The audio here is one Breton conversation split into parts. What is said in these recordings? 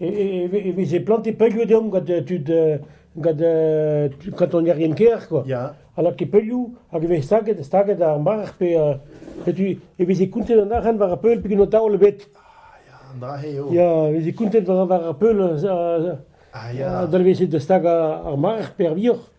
e veze plantet peulioù deomp gant tud gant kantonierien kêr quoi. Ya. Alors que peulioù hag e vez staget staget ar marc'h pe e veze kontet an arc'hant war ar peul peget an taol ebet. Ah ya, an dra-se eo. Ya, e veze kontet war ar peul. Ah ya. Dalvezet da stag ar marc'h pe ar vioc'h.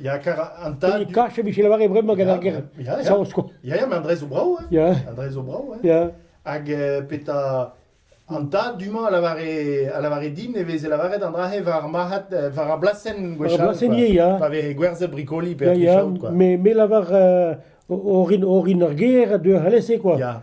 Ya, kar an tad... Kache vije lavaret bremañ gant ar ger saoz, Ya, ya, ma Andrez o brav, hein. Ya. Andrez o brav, hein. Ya. Hag euh, peta an tad du-mañ a lavare a lavare din e veze lavaret an dra-se war ar marc'had euh, war ar blasenn gwechall. War ar blasennier, ya. Pa veze gwerzet brikoli pe atrichaout, quoi. Me me lavar euh, orin orin ar ger a deu alese, quoi. Ya.